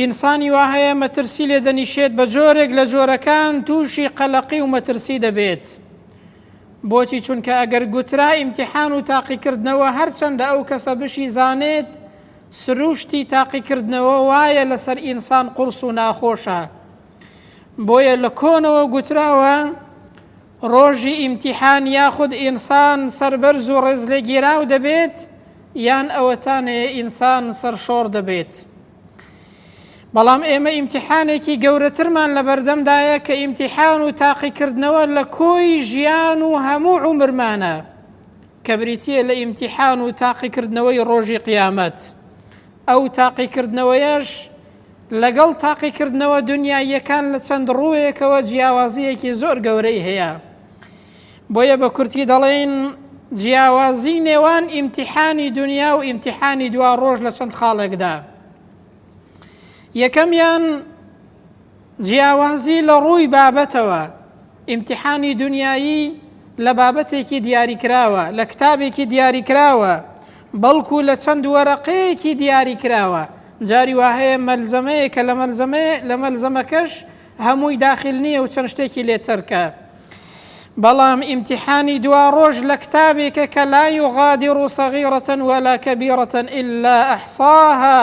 ئینسانی وا هەیە مەترسی لێ دەنیشێت بە جۆرێک لە جۆرەکان تووشی قەلەقی و مەترسی دەبێت بۆچی چونکە ئەگەر گوترا ئیمتحان و تاقیکردنەوە هەرچەندە ئەو کەسە بشی زانێت سروشتی تاقیکردنەوە وایە لەسەر ئینسان قورس و ناخۆشە بۆیە لە کۆنەوە گوتراوە ڕۆژی ئیمتیحان یاخود ئینسان سەربەرز و ڕێزلێگیراو دەبێت یان ئەوەتانەیە ئینسان سەرشۆڕ دەبێت. بەڵام ئێمە ئیمتیحانێکی گەورەترمان لە بەردەمدایە کە ئیمتیحان و تاقیکردنەوە لە کۆی ژیان و هەموو عمرمانە کە بریتە لە ئیمتیحان و تاقیکردنەوەی ڕۆژی قیامەت. ئەو تاقیکردنەوەیەش لەگەڵ تاقیکردنەوە دونیاییەکان لە چەند ڕووێکەوە جیاوازییەکی زۆر گەورەی هەیە. بۆیە بە کورتی دەڵێین جیاوازی نێوان ئیمتیحانی دنیا و ئیمتیحانی دوا ڕۆژ لە چەند خاڵێکدا. یەکەمیان جیاوازی لە ڕووی بابەتەوە، ئیمتیحانی دونیایی لە بابەتێکی دیاریکراوە، لە کتابێکی دیاریکراوە، بەڵکو لە چەند وەرەقەیەکی دیاریکراوە، جاری وا هەیە مەلزەمەیە کە لە مەلزەمەیە لە مەلزەمەکەش هەمووی داخل نییە و چەند شتێکی لێ تەرکە. بەڵام ئیمتیحانی دواڕۆژ لە کتابێکە کە لا یغادر صغیرە ولا کبیرە الا احصاها،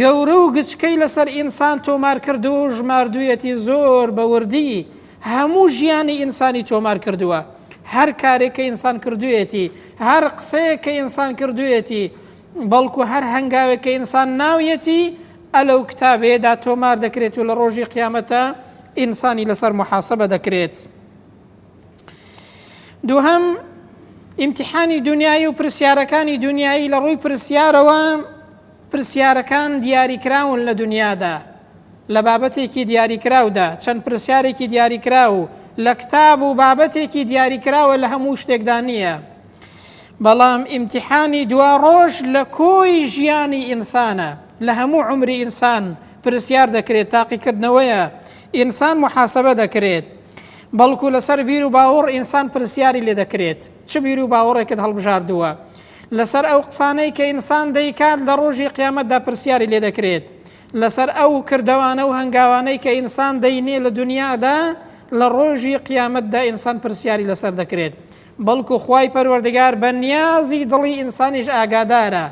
گەورە و گچکەی لەسەر ئینسان تۆمار کردووە و ژماردوویەتی زۆر بە وردی هەموو ژیانی ئینسانی تۆمار کردووە هەر کارێک کە ئینسان کردوویەتی هەر قسەیەک کە ئینسان کردوویەتی بەڵکو هەر هەنگاوێک کە ئینسان ناویەتی ئەلەو کتابەیەدا تۆمار دەکرێت و لە ڕۆژی قیامەتە ئینسانی لەسەر محاسبە دەکرێت دووهم ئیمتحانی دنیای و پرسیارەکانی دنیایی لە ڕووی پرسیارەوە پرسیارەکان دیاریکراون لە دونیادا، لە بابەتێکی دیاریکراودا، چەند پرسیارێکی دیاریکراو لە کتاب و بابەتێکی دیاریکراوە لە هەموو شتێکدا نییە. بەڵام ئیمتیحانی دواڕۆژ لە کۆی ژیانی ئینسانە، لە هەموو عومری ئینسان پرسیار دەکرێت، تاقیکردنەوەیە، ئینسان موحاسەبە دەکرێت. بەڵکو لەسەر بیر و باوەڕ ئینسان پرسیاری لێ دەکرێت. چ بیر و باوەڕێکت هەڵبژاردووە لەسەر ئەو قسانەی کە ئینسان دەیکات لە ڕۆژی قیامەتدا پرسیاری لێ دەکرێت لەسەر ئەو کردەوانە و هەنگاوانەی کە ئینسان دەینێ لە دنیادا لە ڕۆژی قیامەتدا ئینسان پرسیاری لەسەر دەکرێت بەڵکو خوای پەروەردگار بە نیازی دڵی ئینسانیش ئاگادارە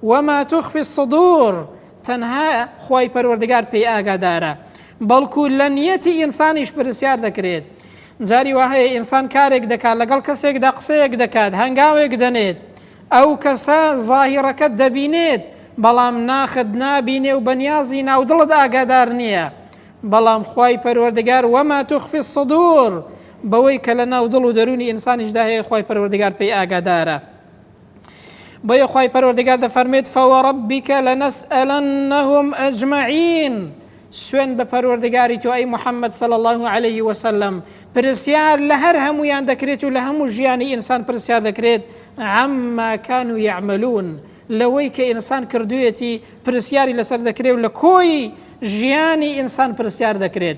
وما تخفی الصدور تەنها خوای پەروەردگار پێی ئاگادارە بەڵکو لە نیەتی ئینسانیش پرسیار دەکرێت جاری وهەیە ئینسان کارێک دەکات لەگەڵ کەسێکدا قسەیەک دەکات هەنگاوێک دەنێت ئەو کەسە ظاهیڕەکە دەبینێت بەڵام ناخت نابینێ و بەنیازی ناودڵت ئاگادار نییە بەڵام خی پەروەردگار وەما توخفی سەدور بەوەی کە لە ناو دڵ و دەرونی ئینسانیشدا هەیە خی پەروەردگار پێی ئاگادارە بۆیە خوای پەروەردگار دەفەرمێت فەوەڕبیکە لە نەسئەلەنەهم ئەجمعین سوێن بە پەروەردگاری تۆ ئەی محەممەد سەل الله عليه وسلم پرسیار لە هەر هەمویان دەکرێت و لە هەموو ژیانی ئینسان پرسیار دەکرێت ئەمماکان و یعملون لەوەی کە ئینسان کردوێتی پرسیاری لەسەر دەکرێت و لە کۆی ژیانی ئینسان پرسیار دەکرێت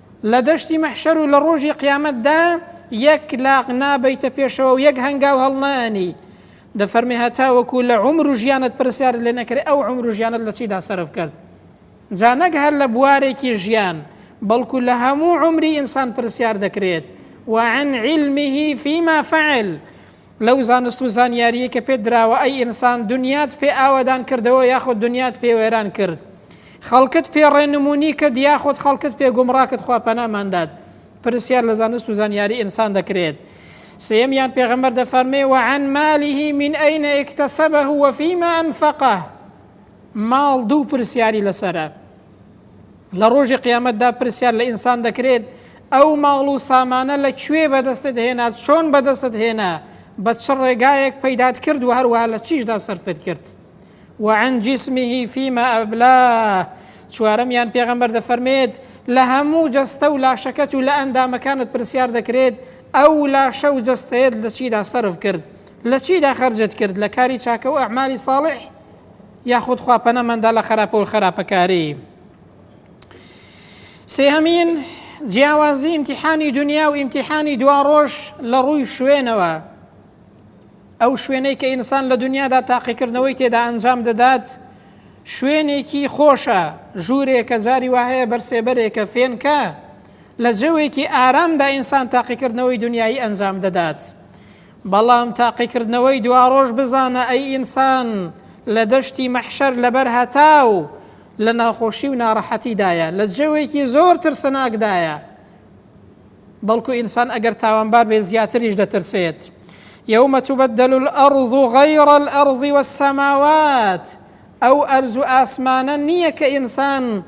لە دەشتی مەحشەر و لە ڕۆژی قیامەتدا یەک لاق نابەیتە پێشەوە و یەک هەنگاو هەڵنانی دەفەرمی هەتاوەکو لە عمر و ژیانت پرسیارت لێ نەکرێت ئەو عمر و ژیانت لە چیدا سەرف کرد جا نەک هەر لە بوارێکی ژیان بەڵکو لە هەموو عمری ئینسان پرسیار دەکرێت وعن علمه فيما فعل لەو زانست و زانیاریەی کە پێت دراوە ئەی ئینسان دنیات پێ ئاوەدان کردەوە یاخود دنیات پێ وێران کرد خەڵکت پێ ڕێنمونی کرد یاخود خەڵکت پێ گومڕاکت خوا پەناماندات پرسیار لە زانست و زانیاری ئینسان دەکرێت سێمیان پێغەمبەر دەفەرمێ وعن مالیه من ئەین اکتسبه وفیما انفقه ماڵ دوو پرسیاری لەسرە لە ڕۆژی قیامەتدا پرسیار لە ئینسان دەکرێت ئەو ماڵ و سامانە لە کوێ بەدەستت هێنا چۆن بەدەستت هێنا بە چ ڕێگایەک پەیدات کرد و هەروەها لە چیشدا سەرفت کرد وعن جسمه فيما أبلاه چوارەمیان پێغەمبەر دەفەرمێت لە هەموو جەستە و لاشەکەت و لە ئەندامەکانت پرسیار دەکرێت ئەو لاشە و جەستەیەت لە چیدا سرف کرد لە چیدا خرجت کرد لە کاری چاکە و ئەعمالی ساڵح یاخود خوا پەنامان دا لە خەراپە و خەراپەکاری. سێهەمین جیاوازی ئیمتیحانی دنیا و ئیمتیحانی دوا ڕۆژ لە ڕووی شوێنەوە ئەو شوێنەی کە ئینسان لە دنیادا تاقیکردنەوەی تێدا ئەنجام دەدات شوێنێکی خۆشە ژوورێکە جاری وهەیە بەرسێبەرێکە فێنکە لە جەوێکی ئارامدا ئینسان تاقیکردنەوەی دنیای ئەنجام دەدات. بەڵام تاقیکردنەوەی دوارۆژ بزانە ئەی ئینسان لە دەشتی مەحشەر لەبەر هەتاو لە ناخۆشی و نارەحەتیدایە لە جەوێکی زۆر ترسناکدایە بەڵکو ئینسان ئەگەر تاوانبار بێ زیاتریش دەترسێت یومە تبدل الأرض غیر الأرض والسماوات ئەو ئەرز و ئاسمانە نییە کە ئینسان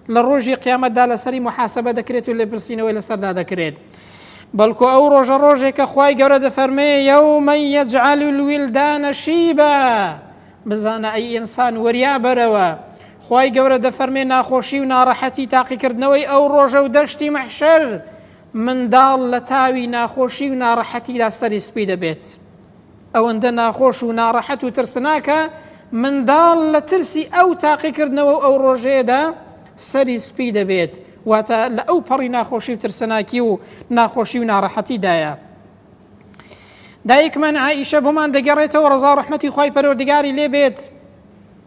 لە ڕۆژی قیامەتدا لەسەری محاسبە دەکرێت و لێپرسینەوەی لەسەردا دەکرێت بەڵکو ئەو ڕۆژە ڕۆژێکە خی گەورە دەفەرمێ یومە یەجعل الویلدانە شیبە بزانە ئەی ئینسان وەریا بەرەوە خی گەورە دەفەرمێ ناخۆشی و ناڕەحەتی تاقیکردنەوەی ئەو ڕۆژە و دەشتی مەحشەر منداڵ لە تاوی ناخۆشی و ناڕەحەتیدا سەری سپی دەبێت. ئەوەندە ناخۆش و ناڕەحەت و ترسناکە منداڵ لە ترسی ئەو تاقیکردنەوە و ئەو ڕۆژەیەدا سەری سپی دەبێت، واتە لە ئەو پەڕی ناخۆشی و ترسناکی و ناخۆشی و ناڕەحەتیدایە. دایکمان عائیشە بۆمان دەگەڕێتەوە ڕزا و ڕەحمەتی خوای پەروەردگاری لێ بێت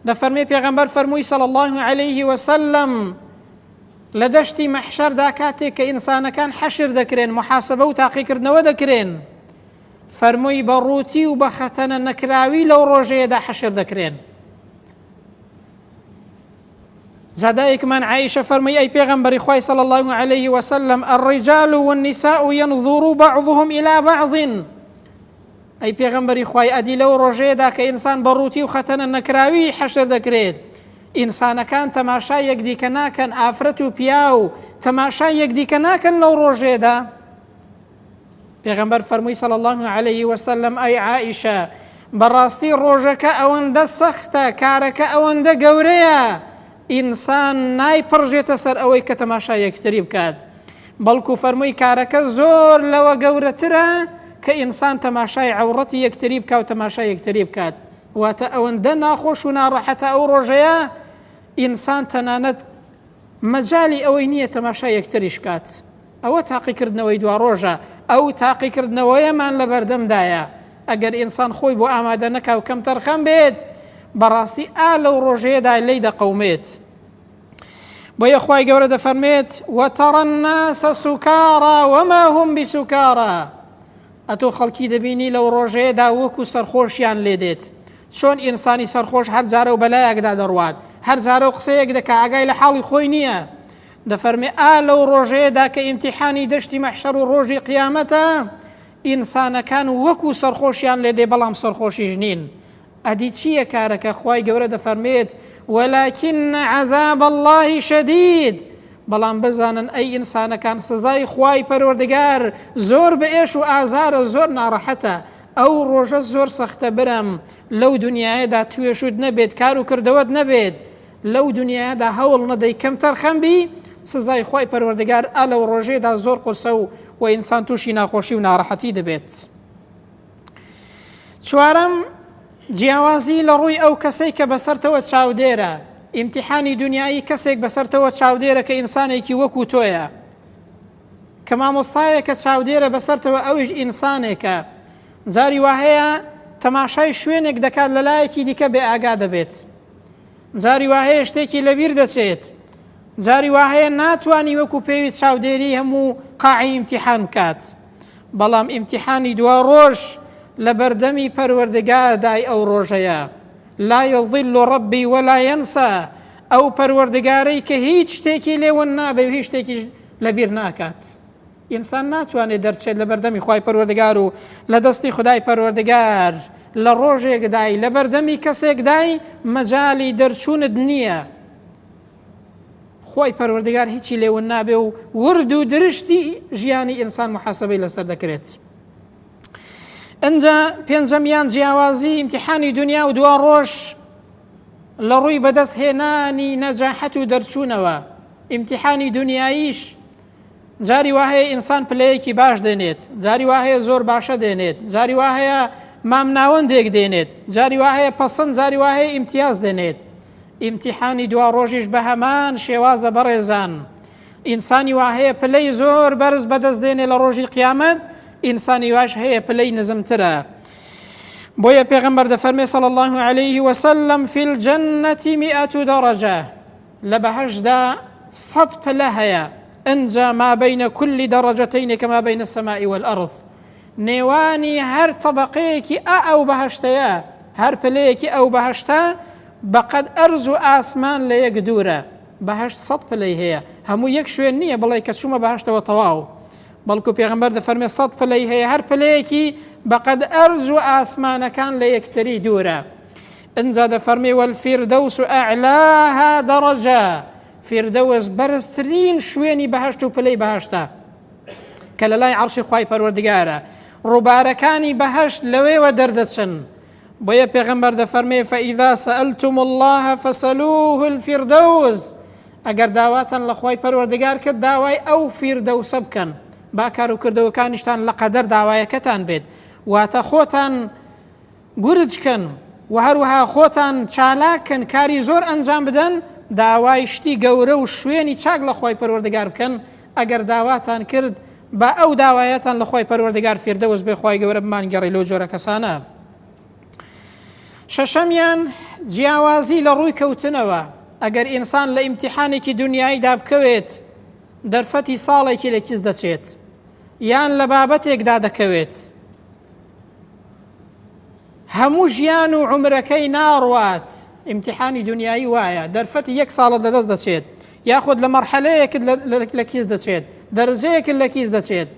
دەفەرمێ پێغەمبەر فەرمووی صلی الله علیه وسلم لە دەشتی مەحشەردا کاتێک کە ئینسانەکان حەشر دەکرێن محاسبە و تاقیکردنەوە دەکرێن فەرمووی بە ڕووتی و بە خەتەنە نەکراوی لەو ڕۆژەیەدا حەشر دەکرێن زادائکمان عیشە فەرمووی ئەی پێغەمبەری خوای صلی الله عليه وسلم الرجال والنساء ينظر بعضهم إلى بعض ئەی پێغەمبەری خوای ئەدی لەو ڕۆژەیەدا کە ئینسان بە ڕووتی و خەتەنە نەکراوی حەشر دەکرێت ئینسانەکان تەماشا یەکدیکە ناکەن ئافرەت و پیا و تەماشا یەکدیکە ناکەن لەو ڕۆژێدا پێغەمبەر فەرمووی صلی اللە علیه وسلم ئەی عائیشە بەڕاستی ڕۆژەکە ئەوەندە سەختە کارەکە ئەوەندە گەورەیە ئینسان نایپڕژێتە سەر ئەوەی کە تەماشا یەکتری بکات بەڵکو فەرمووی کارەکە زۆر لەوە گەورەترە کە ئینسان تەماشای عورەتی یەکتری بکە و تەماشا یەکتری بکات واتە ئەوەندە ناخۆش و ناڕەحەتە ئەو ڕۆژەیە ئینسان تەنانەت مەجالی ئەوەی نییە تەماشای یەکتریش کات. ئەوە تاقیکردنەوەی دواڕۆژە، ئەو تاقیکردنەوەیەمان لەبەردەمدایە. ئەگەر ئینسان خۆی بۆ ئامادە نەکا و کەمتەرخەم بێت، بەڕاستی ئا لەو ڕۆژەیەدا لێی دەقەومێت. بۆیە خوای گەورە دەفەرمێت، وترى الناس سکارا وما هم بسکارا ئەتۆ خەڵکی دەبینی لەو ڕۆژەیەدا وەکو سەرخۆشیان لێدێت، چۆن ئینسانی سەرخۆش هەر جارەو بەلایەکدا دەڕوات هەر جارەو قسەیەک دەکا ئاگای لە حاڵی خۆی نییە دەفەرمێ ئا لەو ڕۆژەیەدا کە ئیمتیحانی دەشتی مەحشەر و ڕۆژی قیامەتە ئینسانەکان وەکو سەرخۆشیان لێ دێ بەڵام سەرخۆشیش نین ئەدی چییە کارەکە خی گەورە دەفەرمێت وەلاکن عذاب الله شدید بەڵام بزانن ئەی ئینسانەکان سزای خوای پەرۆردگار زۆر بە ئێش و ئازارە زۆر ناڕەحەتە ئەو ڕۆژە زۆر سەختە برام لەو دونیایەدا توێشوت نەبێت کار و کردەوەت نەبێت لەو دونیایەدا هەوڵ نەدەی کەم تەرخەم بی سزای خوای پەروەردگار ئا لەو ڕۆژێدا زۆر قورسە و و ئینسان تووشی ناخۆشی و ناڕەحەتی دەبێت چوارەم جیاوازی لە ڕووی ئەو کەسەی کە بەسەرتەوە چاودێرە ئیمتحانی دنیایی کەسێک بەسەرتەوە چاودێرە کە ئینسانێکی وەکو تۆیە کە مامۆستایەکە چاودێرە بەسەرتەوە ئەویش ئینسانێکە جاری واهەیە تەماشای شوێنێک دەکات لە لایەکی دیکە بێ ئاگا دەبێت جاری واهەیە شتێکی لەبیر دەچێت جاری واهەیە ناتوانانی وەکو پێوی چاودێری هەموو قاعی ئیمتیحان بکات بەڵام ئیمتیحانی دوا ڕۆژ لە بەردەمی پەروەردگادای ئەو ڕۆژەیە لا یظل ڕبی وەلا ینسا ئەو پەروەردگارەی کە هیچ شتێکی لێون نابێ و هیچ شتێکی لەبیر ناکات ئینسان ناتوانێت دەرچێت لە بەردەمی خی پەروەردگار و لە دەستی خدای پەروەردگار لە ڕۆژێکدای لە بەردەمی کەسێکدای مەجای دەرچوونت نییە خۆی پەروەردگار هیچی لێون نابێ و ورد و درشتی ژیانی ئینسان محاسبەی لەسەر دەکرێت. ئەجا پێنجەمیان جیاوازی ئیمتحانی دنیا و دوا ڕۆژ لە ڕووی بەدەست هێنانی نەجاحەت و دەرچوونەوە ئیمتیحانی دنیاییش جاری وا هەیە ئینسان پلەیەکی باش دێنێت جاری وا هەیە زۆر باشە دێنێت جاری وا هەیە مام ناوەندێک دێنێت جاری وا هەیە پەسەند جاری وا هەیە ئیمتیاز دێنێت ئیمتیحانی دوا ڕۆژیش بە هەمان شێوازە بەڕێزان ئینسانی وا هەیە پلەی زۆر بەرز بەدەست دێنێ لە ڕۆژی قیامەت ئینسانی واش هەیە پلەی نزمترە بۆیە پێغمبەر دەفەرمێ صلى الله عليه وسلم في الجنة مئة درجة لە بەهەشتدا سەد پلە هەیە ئنجا ما بین کل درجتین کما بین السماء والارض نێوانی هەر تەبەقەیەکی ئا ئەو بەهەشتەیە هەر پلەیەکی ئەو بەهەشتە بەقەد ئەرز و ئاسمان لە یەک دوورە بەهشت سەد پلەی هەیە هەموو یەک شوێن نییە بڵێ کە چوومە بەهشتەوە تەواو بەڵکو پێغمبەر دەفەرمێ سەد پلەی هەیە هەر پلەیەکی بەقەد ئەرز و ئاسمانەکان لە یەکتری دوورە ئنجا دەفەرمی والفردوس اعلاها درجە فردوس بەرزترین شوێنی بەهشت و پلەی بەهشتە کە لە لای عرشی خی پەروەردگارە ڕووبارەکانی بەهشت لەوێوە دەردەچن بۆیە پێغمبەر دەفەرمێ فەئیدا سەلتم الله فەسەلوه الفردوس ئەگەر داواتان لە خی پەروەردگار کرد داوای ئەو فیردەوسە بکەن با کار و کردەوەکانیشتان لە قەدەر داوایەکەتان بێت واتە خۆتان گورج کەن و هەروەها خۆتان چالاک کەن کاری زۆر ئەنجام بدەن، داوای شتی گەورە و شوێنی چاک لە خوای پەروەردگار بکەن، ئەگەر داواتان کرد با ئەو داوایەتان لە خوای پەروەردگار فیردەوس بێ خوای گەورە بمانگێڕی لەو جۆرە کەسانە. شەشەمیان، جیاوازی لە ڕووی کەوتنەوە، ئەگەر ئینسان لە ئیمتیحانێکی دونیاییدا بکەوێت دەرفەتی ساڵێکی لە کیس دەچێت یان لە بابەتێکدا دەکەوێت، هەموو ژیان و عمرەکەی ناڕوات ئیمتحانی دنیایی وایە دەرفەتی یەک ساڵت لەدەست دەچێت یاخود لە مەرحەلەیەکت لە کیس دەچێت دەرزەیەکت لە کیس دەچێت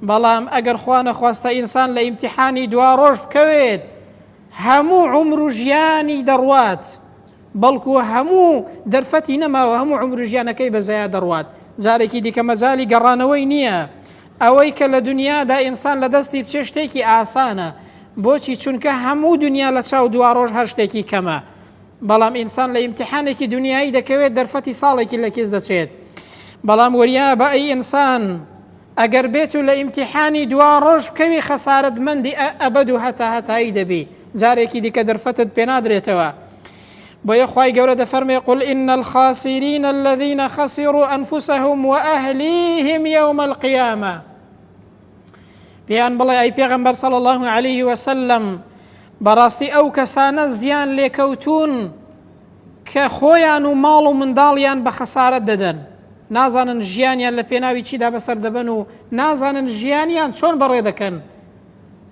بەڵام ئەگەر خوانە خواستە ئینسان لە ئیمتحانی دوا ڕۆژ بکەوێت هەموو عمر و ژیانی دەڕوات بەڵکو هەموو دەرفەتی نەماوە هەموو عومرو ژیانەکەی بە زەیا دەڕوات جارێکی دیکە مەجالی گەڕانەوەی نییە ئەوەی کە لە دنیادا ئینسان لە دەستی بچێ شتێکی ئاسانە بۆچی چونکە هەموو دنیا لە چاو دواڕۆژ هەر شتێکی کەمە بەڵام ئینسان لە ئیمتحانێکی دنیایی دەکەوێت دەرفەتی ساڵێکی لە کیس دەچێت بەڵام وەریا بە ئەی ئینسان ئەگەر بێتو لە ئیمتیحانی دوا ڕۆژ بکەوی خەسارەت مەندی ئە ئەبەد و هەتا هەتایی دەبی جارێکی دیکە دەرفەتت پێنادرێتەوە بۆیە خوای گەورە دەفەرمێ قل ان الخاسرین الذین خسروا انفسهم واهلیهم یوم القیامە پێیان بڵێ ئەی پێغەمبەر صلی الله علیه وسلم بەڕاستی ئەو کەسانە زیان لێکەوتون کە خۆیان و ماڵ و منداڵیان بە خەسارەت دەدەن، نازانن ژیانیان لە پێناوی چیدا بەسەر دەبەن و نازانن ژیانیان چۆن بەڕێ دەکەن،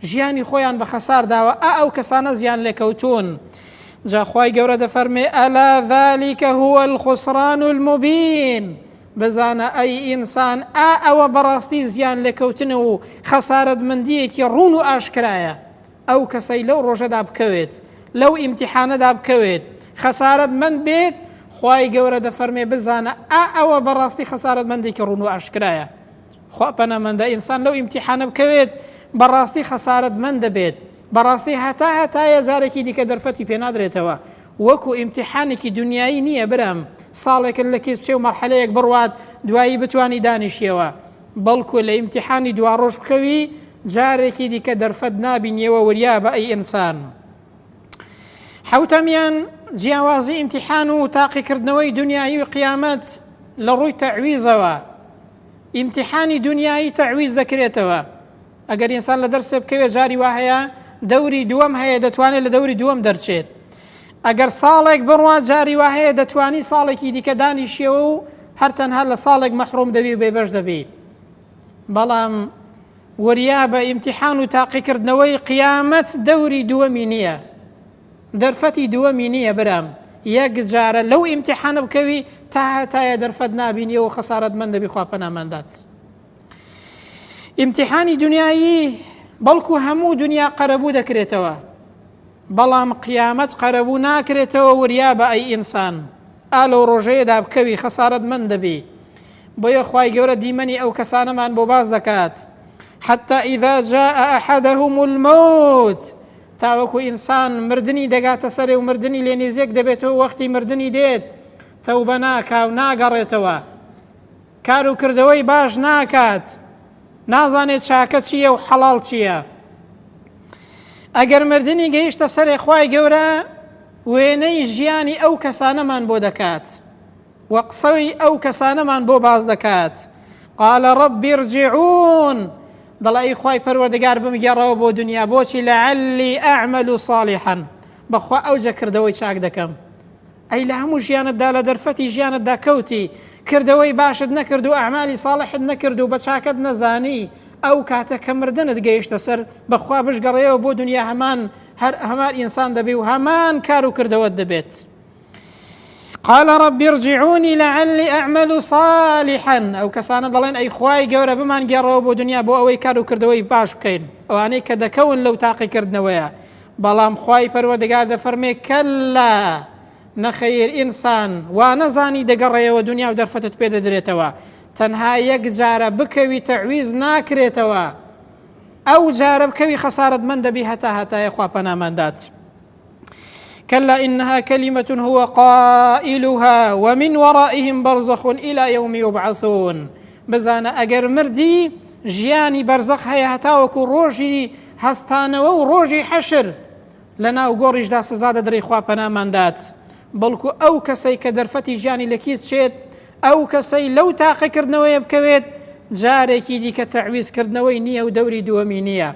ژیانی خۆیان بە خەسار داوە، ئا ئەو کەسانە زیانلێکەوتوون. جا خوای گەورە دەفەرمێ، الا ذلک هو الخسران المبین، بزانە ئەی ئینسان ئا ئەوە بەڕاستی زیانلێکەوتن و خەسارەتمەندییەکی ڕوون و ئاشکرایە. ئەو کەسەی لەو ڕۆژەدا بکەوێت لەو ئیمتیحانەدا بکەوێت خەسارەت مەند بێت خوای گەورە دەفەرمێ بزانە ئا ئەوە بەڕاستی خەسارەت مەندێکی ڕون و ئاشکرایە خوا پەنەمەندە ئینسان لەو ئیمتیحانە بکەوێت بەڕاستی خەسارەت من دەبێت بەڕاستی هەتا هەتایە جارێکی دیکە دەرفەتی پێنادرێتەوە وەکو ئیمتیحانێکی دنیایی نییە برام ساڵێکت لە کێچێ و مەرحەلەیەک بڕوات دوایی بتانی دانیشیەوە بەڵکو لە ئیمتیحانی دواڕۆژ بکەوی جارێکی دیکە دەرفەت نابینیەوە وریابە ئەی ئینسان حوتەمیان جیاوازی ئیمتیحان و تاقیکردنەوەی دنیایی و قیامەت لە ڕووی تەعویزەوە ئیمتیحانی دنیایی تەعویز دەکرێتەوە ئەگەر ئینسان لە دەرسێ بکەوێت جاری وا هەیە دەوری دووەم هەیە دەتوانێت لە دەوری دووەم دەرچێت ئەگەر ساڵێک بڕوان جاری وا هەیە دەتوانی ساڵێکی دیکە دانیشیەوە و هەر تەنها لە ساڵێک مەحروم دەبی و بێبەش دەبی بەڵام وریا بە ئیمتحان و تاقیکردنەوەی قیامەت دەوری دووەمی نییە دەرفەتی دووەمی نییە برام یەک جارە لەو ئیمتحانە بکەوی تا هەتایە دەرفەت نبینیەوە خەسارت من دەبی خواپەناماندات. ئیمتحانی دنیایی بەڵکو هەموو دنیا قەرەبوو دەکرێتەوە بەڵام قیامەت قەرەبوو ناکرێتەوە وریا بە ئەی ئینسان ئا لەو ڕۆژەیەدا بکەوی خەسارت من دەبی بۆیە خی گەورە دیمەنی ئەو کەسانەمان بۆ باز دەکات حتى إذا جاء أحدهم الموت تاوەکو ئینسان مردنی دەگاتە سەرێ و مردنی لێ نێزیێک دەبێتەوە وەختی مردنی دێت تەوبە ناکاو ناگەڕێتەوە کار و کردەوەی باش ناکات، نازانێت چاکە چییە و حەڵاڵ چییە. ئەگەر مردنی گەیشتە سەرێ خوای گەورە وێنەی ژیانی ئەو کەسانەمان بۆ دەکات و قسەی ئەو کەسانەمان بۆ باس دەکات قال رب ارجعون دەڵێ ئەی خوای پەروەردگار بمگێڕەوە بۆ دنیا بۆچی لەعلی ئەعمل و صالحا بەخوا ئەوجە کردەوەی چاک دەکەم ئەی لە هەموو ژیانت دا لە دەرفەتی ژیانت دا کەوتی کردەوەی باشت نەکرد و ئەعمالی ساڵحت نەکرد و بە چاکەت نەزانی ئەو کاتە کە مردنت گەیشتە سەر بە خوا بشگەڕێیەوە بۆ دونیا هەمان هەر هەمان ئینسان دەبی و هەمان کار و کردەوەت دەبێت قال رب ارجعوني لعلي اعمل صالحا ئەو کەسانە دەڵێن ئەی خوای گەورە بمان گێڕەوە بۆ دنیا بۆ ئەوەی کار و کردەوەی باش بکەین ئەوانەی کە دەکەون لەو تاقیکردنەوەیە بەڵام خوای پەروەردگار دەفەرمێ، کەللا، نەخەیر، ئینسان، وانەزانی دەگەڕێیەوە دونیا و دەرفەتت پێ دەدرێتەوە، تەنها یەک جارە بکەوی تەعویز ناکرێتەوە، ئەو جارە بکەوی خەسارەتمەند دەبی هەتا هەتایە خوا پەنامان دات. كلا إنها كلمة هو قائلها ومن ورائهم برزخ إلى يوم يبعثون بزانە ئەگەر مردی ژیانی بەرزەق هەیە هەتاوەکو ڕۆژی هەستانەوە و ڕۆژی حەشر لە ناو گۆڕیشدا سزا دەدرەی خوا پەنامان دات بەڵکو ئەو کەسەی کە دەرفەتی ژیانی لە کیس چێت ئەو کەسەی لەو تاقیکردنەوەیە بکەوێت جارێکی دیکە تەعویزکردنەوەی نییە و دەوری دووەمی نییە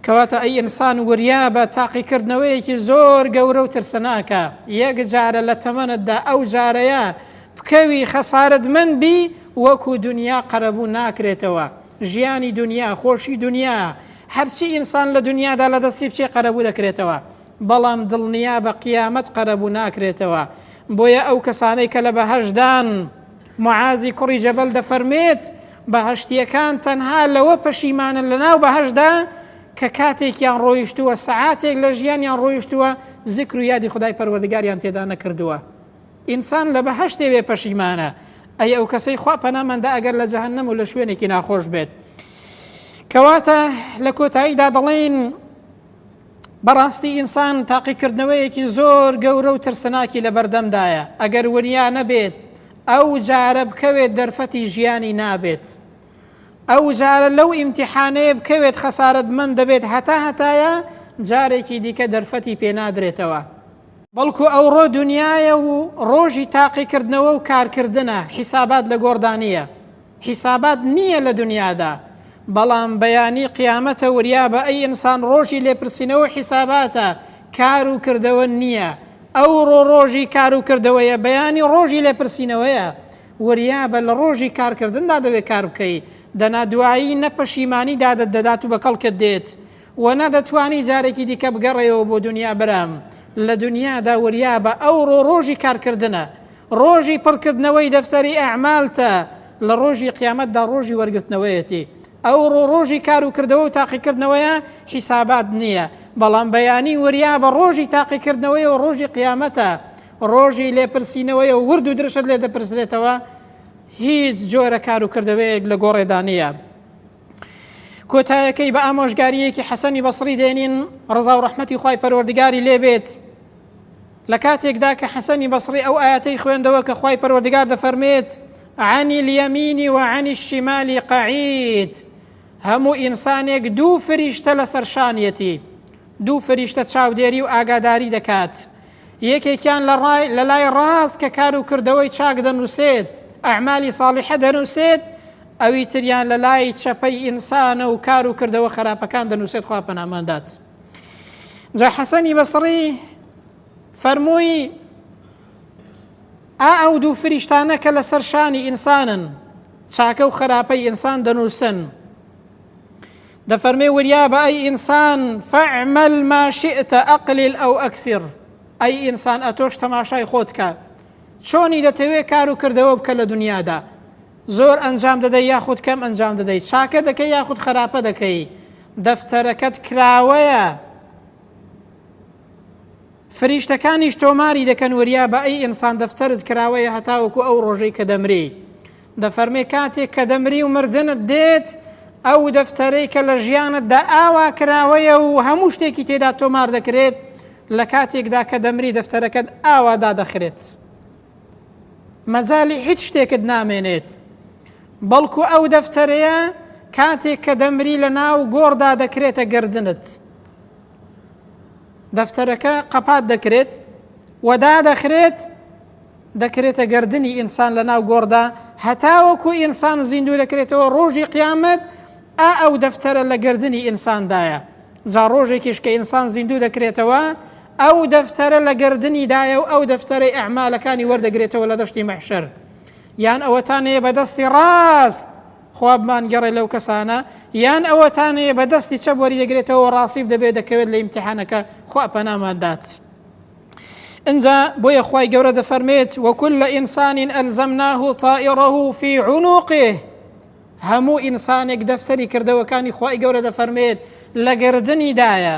کەواتە ئەی ئینسان وریا بە تاقیکردنەوەیەکی زۆر گەورە و ترسناکە یەک جارە لە تەمەنتدا ئەو جارەیە بکەوی خەسارەتمەند بی وەکو دونیا قەرەبوو ناکرێتەوە ژیانی دونیا خۆشی دونیایە هەرچی ئینسان لە دونیادا لە دەستی بچێ قەرەبوو دەکرێتەوە بەڵام دڵنیابە قیامەت قەرەبوو ناکرێتەوە بۆیە ئەو کەسانەی کە لە بەهەشدان معازی کوڕی جەبەل دەفەرمێت بەهەشتیەکان تەنها لەوە پەشیمانن لە ناو بەهەشدا کە کاتێکیان ڕۆیشتووە سەعاتێک لە ژیانیان ڕۆیشتووە زیکر و یادی خدای پەروەردگاریان تێدا نەکردووە ئینسان لە بەهەشت دەیەوێت پەشیمانە، ئەی ئەو کەسەی خوا پەنامان دا ئەگەر لە جەهەنەم و لە شوێنێکی ناخۆش بێت. کەواتە لە کۆتاییدا دەڵێین بەڕاستی ئینسان تاقیکردنەوەیەکی زۆر گەورە و ترسناکی لە بەردەمدایە، ئەگەر وریا نەبێت ئەو جارە بکەوێت دەرفەتی ژیانی نابێت. ئەو جارە لەو ئیمتیحانەیە بکەوێت خەسارەتمەند دەبێت هەتا هەتایە جارێکی دیکە دەرفەتی پێنادرێتەوە. بەڵکو ئەوڕۆ دونیایە و ڕۆژی تاقیکردنەوە و کارکردنە، حیسابات لە گۆڕدا نییە. حیسابات نییە لە دونیادا، بەڵام بەیانی قیامەتە وریابە ئەی ئینسان ڕۆژی لێپرسینەوە و حیساباتە کار و کردەوە نییە. ئەوڕۆ ڕۆژی کار و کردەوەیە، بەیانی ڕۆژی لێپرسینەوەیە. وریابە لە ڕۆژی کارکردندا دەبێت کار بکەی، دەنا دوایی نە پەشیمانی دادت دەدات و بە کەڵکت دێت، وە نە دەتوانی جارێکی دیکە بگەڕێیەوە بۆ دونیا برام لە دونیادا وریابە ئەوڕۆ ڕۆژی کارکردنە ڕۆژی پڕکردنەوەی دەفتەری ئەعمالتە لە ڕۆژی قیامەتدا ڕۆژی وەرگرتنەوەیەتی ئەوڕۆ ڕۆژی کار و کردەوە و تاقیکردنەوەیە حیسابات نییە بەڵام بەیانی وریابە ڕۆژی تاقیکردنەوەی و ڕۆژی قیامەتە ڕۆژی لێپرسینەوەیە و ورد و درشت لێ دەپرسرێتەوە هیچ جۆرە کار و کردەوەیەک لە گۆڕێدا نییە کۆتایەکەی بە ئامۆژگاریەکی حەسەنی بەسری دێنین ڕزا و ڕحمەتی خی پەروەردگاری لێبێت لە کاتێکدا کە حەسەنی بەسری ئەو ئاەتەی خوێندەوە کە خی پەروەردگار دەفەرمێت عانی لیەمینی وعانی شیمالی قعید هەموو ئینسانێک دوو فریشتە لە سەرشانیەتی دوو فریشتە چاودێری و ئاگاداری دەکات یەکێکیان لە ڕای لە لای ڕاست کە کار و کردەوەی چاک دەنووسێت ئەعمالی ساڵحە دەنووسێت ئەوی تریان لە لای چەپەی ئینسانە و کار و کردەوە خەراپەکان دەنووسێت خوا پەنامان دات جا حەسەنی بەسڕی فەرمووی ئا ئەو دوو فریشتانە کە لەسەر شانی ئینسانن چاکە و خراپەی ئینسان دەنووسن دەفەرمێ وریا بە ئەی ئینسان فەعمل ماشئتە ئەقلیل ئەو ئەکسر ئەی ئینسان ئەتۆش تەماشای خۆتکە چۆنی دەتەوێ کار و کردەوە بکە لە دنیادا زۆر ئەنجام دەدەی یاخود کەم ئەنجام دەدەی؟ چاکە دەکەی یاخود خەراپە دەکەی؟ دەفتەرەکەت کراوەیە؟ فریشتەکانیش تۆماری دەکەن وریا بە ئەی ئینسان دەفتەرت کراوەیە هەتاوەکو ئەو ڕۆژەی کە دەمری دەفەرمێ کاتێک کە دەمری و مردنت دێت ئەو دەفتەرەی کە لە ژیانتدا ئاوا کراوەیە و هەموو شتێکی تێدا تۆمار دەکرێت لە کاتێکدا کە دەمری دەفتەرەکەت ئاوا دادەخرێت. مەجالی هیچ شتێکت نامێنێت بەڵکو ئەو دەفتەرەیە کاتێک کە دەمری لە ناو گۆڕدا دەکرێتە گردنت دەفتەرەکە قەپات دەکرێت وەدا دەخرێت دەکرێتە گردنی ئینسان لە ناو گۆڕدا هەتاوەکو ئینسان زیندوو دەکرێتەوە ڕۆژی قیامەت ئا ئەو دەفتەرە لە گردنی ئینساندایە جا ڕۆژێکیش کە ئینسان زیندوو دەکرێتەوە ئەو دەفتەرە لە گەردنی دایە و ئەو دەفتەرەی ئەعمالەکانی وەردەگرێتەوە لە دەشتی مەحشەر یان ئەوەتانەیە بە دەستی ڕاست خوابمان گەڕێ لەو کەسانە یان ئەوەتانەیە بە دەستی چەپ وەریدەگرێتەوە ڕاستیب دەبێت دەکەوێت لە ئیمتحانەکە خوا پەنامان دات. انجا بۆیە خی گەورە دەفەرمێت وەکل لە ئینسانین ئەلزەمناه تائڕه فی عنوقێ هەموو ئینسانێک دەفسەری کردەوەکانی خی گەورە دەفەرمێت لە گردنیدایە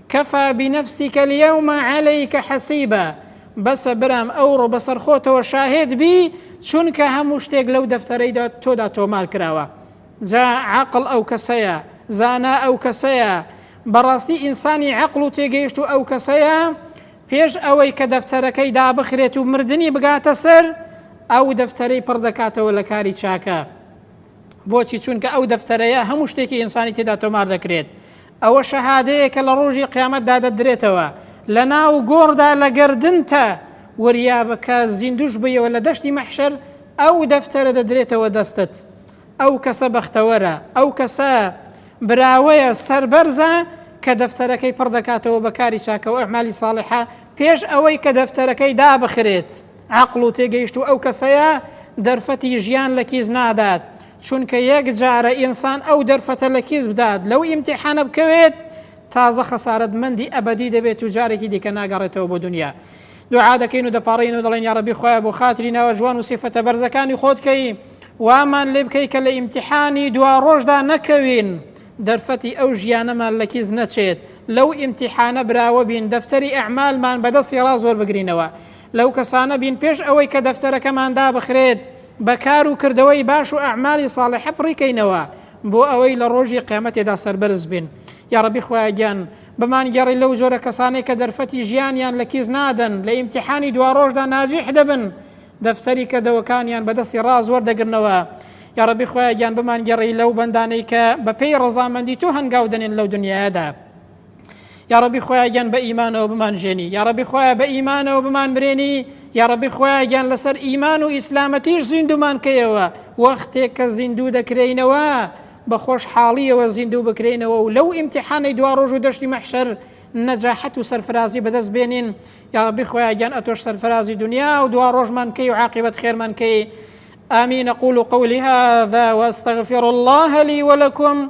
کفا بنفسک الیوم علیک حسیبا، بەسە برام ئەوڕۆ بەسەرخۆتەوە شاهێد بی چونکە هەموو شتێک لەو دەفتەرەی تۆدا تۆمار کراوە. جا عەقڵ ئەو کەسەیە، زانا ئەو کەسەیە، بەڕاستی ئینسانی عەقڵ و تێگەیشتوو ئەو کەسەیە پێش ئەوەی کە دەفتەرەکەی دابخرێت و مردنی بگاتە سەر ئەو دەفتەرەی پڕ دەکاتەوە لە کاری چاکە. بۆچی چونکە ئەو دەفتەرەیە هەموو شتێکی ئینسانی تێدا تۆمار دەکرێت. ئەوە شەهادەیەکە لە ڕۆژی قیامەتدا دەدرێتەوە لە ناو گۆڕدا لە گەردنتا، وریابە کە زیندووش بیەوە لە دەشتی مەحشەر ئەو دەفتەرە دەدرێتەوە دەستت. ئەو کەسە بەختەوەرە، ئەو کەسە براوەیە، سەربەرزە کە دەفتەرەکەی پڕ دەکاتەوە بە کاری چاکە و ئەعمالی ساڵحە پێش ئەوەی کە دەفتەرەکەی دابخرێت. عەقڵ و تێگەیشتوو ئەو کەسەیە دەرفەتی ژیان لە کیس نادات. چونکە یەک جارە ئینسان ئەو دەرفەتە لە کیس بدات لەو ئیمتیحانە بکەوێت تازە خەسارەت مەندی ئەبەدی دەبێت و جارێکی دیکە ناگەڕێتەوە بۆ دنیا دوعا دەکەین و دەپاڕین و دەڵێن یا ڕەبی خۆیان بۆ خاتری ناوە جوان و سیفەتە بەرزەکانی خۆت کەی وامان لێ بکەی کە لە ئیمتیحانی دوا ڕۆژدا نەکەوین دەرفەتی ئەو ژیانەمان لە کیس نەچێت لەو ئیمتیحانە براوە بین دەفتەری ئەعمالمان بەدەستی ڕاز وەربگرینەوە لەو کەسانە بین پێش ئەوەی کە دەفتەرەکەمان دابخرێت بە کار و کردەوەی باش و ئەعمالی ساڵحە پڕیکەینەوە بۆ ئەوەی لە ڕۆژی قیامەتێدا سەربەرز بین یا ڕەبی خوایگیان بمانگەڕی لەو جۆرە کەسانەی کە دەرفەتی ژیانیان لە کیس نادەن لە ئیمتحانی دواڕۆژدا ناجیح دەبن دەفتەری کردەوەکانیان بەدەستی ڕاز وەردەگرنەوە یا ڕەبی خوایگیان بمانگەڕی لەو بەندانەی کە بەپێی ڕەزامەندی تۆ هەنگاو دەنێن لەو دنیادا یاڕەبی خۆیان گیان بە ئیمانەوە بمان ژێنی یاڕەبی خۆیان بە ئیمانەوە بمان مرێنی یاڕەبی خۆیان گیان لەسەر ئیمان و ئیسلامەتیش زیندومان کەیەوە وەختێک کە زیندوو دەکرینەوە بە خۆشحاڵیەوە زیندوو بکرینەوە و لەو ئیمتحانەی دوا ڕۆژ و دەشتی مەحشەر نەجاحەت و سەرفرازی بەدەست بێنین یاڕبی خۆیان گیان ئەتۆش سەرفرازی دنیا و دوا ڕۆژمان کەی و عقیبەت خێرمان کەی آمين أقول قولي هذا وأستغفر الله لي ولكم